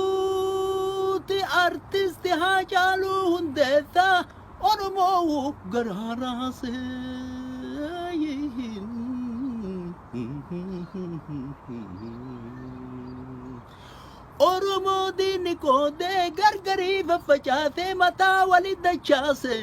Duuti artisti Haacaaluu Hundeessaa Oromoo garaa raasee. Oromoo diinni qoodee gargarii faffacaasee mataa wali dachaasee.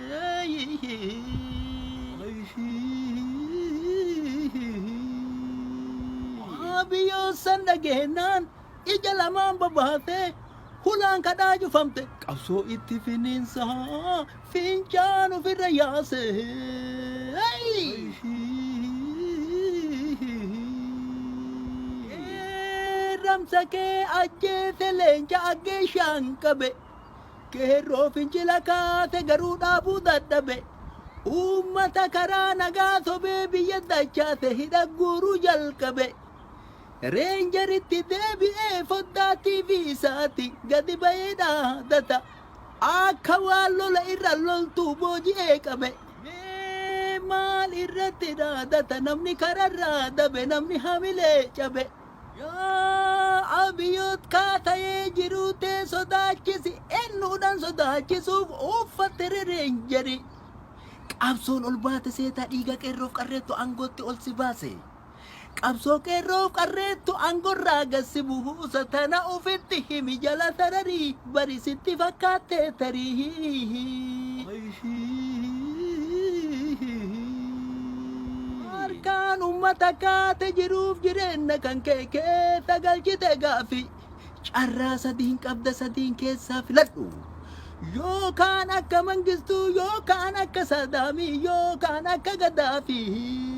Biyyoon san dhageennaan ija lamaan babaatee hulaan kadhaa cufamte qabsoo itti finiinsaa fincaan ofirra yaase. Ramsa kee ajjeese leenca aggeeshaan qabe. Qeerroo fincila kaase garuu dhaabuu dadhabe. Uummata karaa nagaa sobee biyya dachaase hidha guuruu jalqabe. Reenjeritti deebi'ee foddaa TV isaati gadi ba'ee dhaadata. Akka waan lola irra loltuu booji'ee qabe. Mee maal irratti dhaadata namni kararraa dabe namni hamilee cabe. Yaa Abiyot kaa tayee jiruu tee sodaachisi ennuudhan sodaachisuuf uuffatte re reenjeri qabsoon ol baate seetaa dhiiga qeerroof qarreettu angootti ol si baase qabsoo qeerroof qarreettu angorraa gad si buusa tana ufitti himi jala tararii Bari sitti fakkaatte tarii. Harkaan ummata kaate jiruuf jireenna kan kee keessa galchite gaaffii. Carraa sadiin qabda sadiin keessaa filadhu. Yookaan akka Mangistuu yookaan akka Saadaamii yookaan akka Gaddaafii.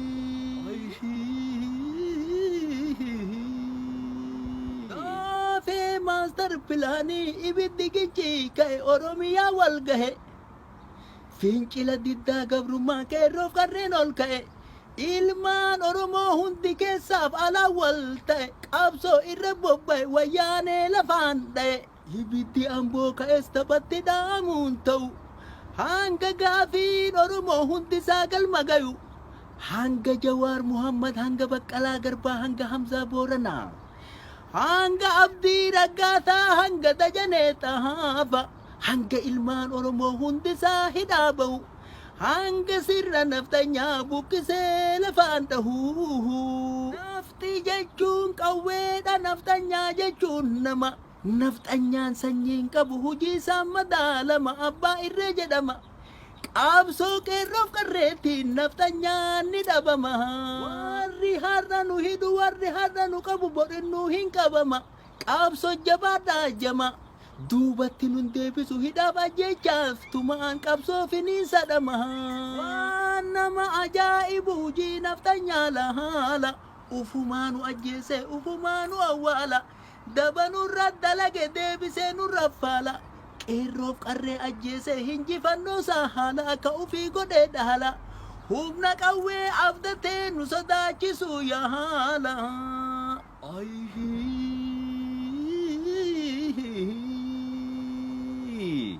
Caffee Maastar Pilaanii Ibiddi Gicci Ka'e Oromiyaa Wal Gahe Fincila Diddaa Gabrummaa Qeerroof Qarreen Ol Ka'e Ilmaan Oromoo Hundi Keessaaf Alaan Wal Ta'e Qabsoo Irra Bobba'e Wayyaanee Lafaan Dha'e Ibiddi Amboo Ka'es Taphatti Dhaamuun Ta'u Hanga Gaafiin Oromoo Hundisaa Galma Gayu Hanga Jawaar Muhammad Hanga Baqqalaa Garbaa Hanga Hamzaa Booranaa. Hanga Abdii Raggaasaa hanga Dajanee Xahaafa hanga ilmaan Oromoo hundisaa hidhaa ba'u hanga sirna nafxanyaa buqqisee lafaan dhahuu. Nafxi jechuun qawweedha nafxanyaa jechuun nama. Nafxanyaan sanyii hin qabu hujii isaan madaalama abbaa irree jedhama. Qaabsoo qeerroof qarreettiin nafxanyaan ni dhabama. Warri har'a nu hidhu warri har'a nu qabu borinnuu hin qabama. Qaabsoo jabaadhaa jama. Duubatti nun deebisu hidhaaf ajjeechaaf tumaan qabsoo finiinsa dhama. Waan nama ajaa'ibu hujii nafxanyaa laala. Ufumaa nu ajjeesee ufumaa nu awwaala. Daba nurra dalage deebisee nurra faala Qeerroof qarree ajjeesee hinjifannoosaa haala Akka ufii godhee dhaala Humna qawwee abdatee nu sodaachisuu yaala Ayii.